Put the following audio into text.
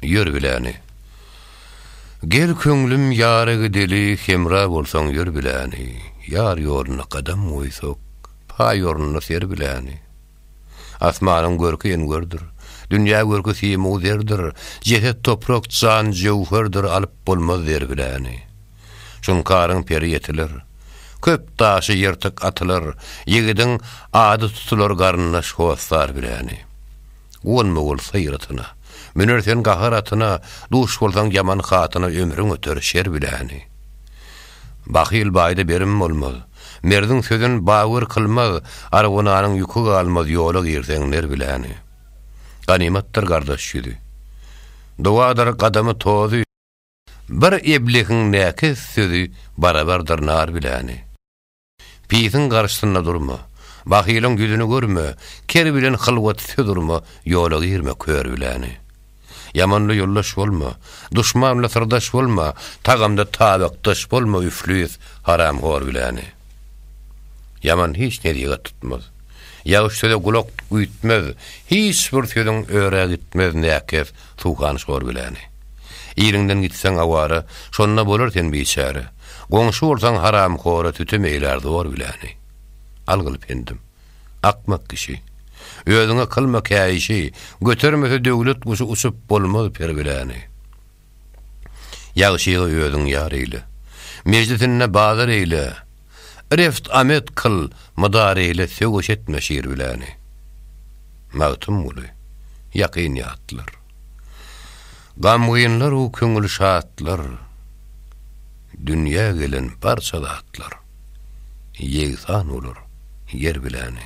Ýör biläni. Gel köňlüm ýara gideli Hemra bolsaň ýör biläni Ýar ýoluna gadam goýsak Paý ornuna ser biläni. Asmanyň görki engördir Dünýä görki simu zerdir Jeset toprak jan jöwherdir Alyp bolmaz der biläni. Şunkaryň peri ýetiler Köp daşy ýyrtyk atylar Ýigidiň ady tutular Garyndaş hossar biläni. Gonma bol syr atyna, Müner sen gahar atyna, Duş bolsaň ýaman hatyna, Ömrüň öter şer bileni. Bahyl baýda berim bolmaz, Merdiň sözün bawyr kylmaz, Argonanyň ýüki galmaz, Ýola girseň ner bileni. Ganymatdyr gardaş ýüzi, Dowadyr gadamy tozy, Bir eblehiň näkes sözi, Barabardyr nar bileni. Pisiň garşysynda durma, bahylyň ýüzüni görme, ker bilen hylwat söz urma, ýola girme kör bileni. Ýamanla ýoldaş bolma, duşmanla syrdaş bolma, tagamda tabakdaş bolma üflis, haramhor bileni. Ýaman hiç nesihat tutmaz, ýagşy söze gulak üýtmez, hiç bir sözüň öre gitmez, näkes, Suwhan şor biläni. Iliňden gitseň awara, Şonda bolar sen biçäre. Goňşy bolsaň haramhora, Sütem eýlär zor biläni. Algyl pendim. Akmak kişi. Özüňe kylma käýişi, Götermese döwlet guşy Uçup bolmaz per biläni. Ýagşygy özüň ýar eýle. Mejlisinde bazar eýle, Reft amet kyl, mydar eýle söwüş etme şir biläni. Magtymguly, ýakyn ýatlar. Gamgynlar u köňül şatlar, Dünýä gelen barça zatlar, Ýegsan bolar ýer biläni.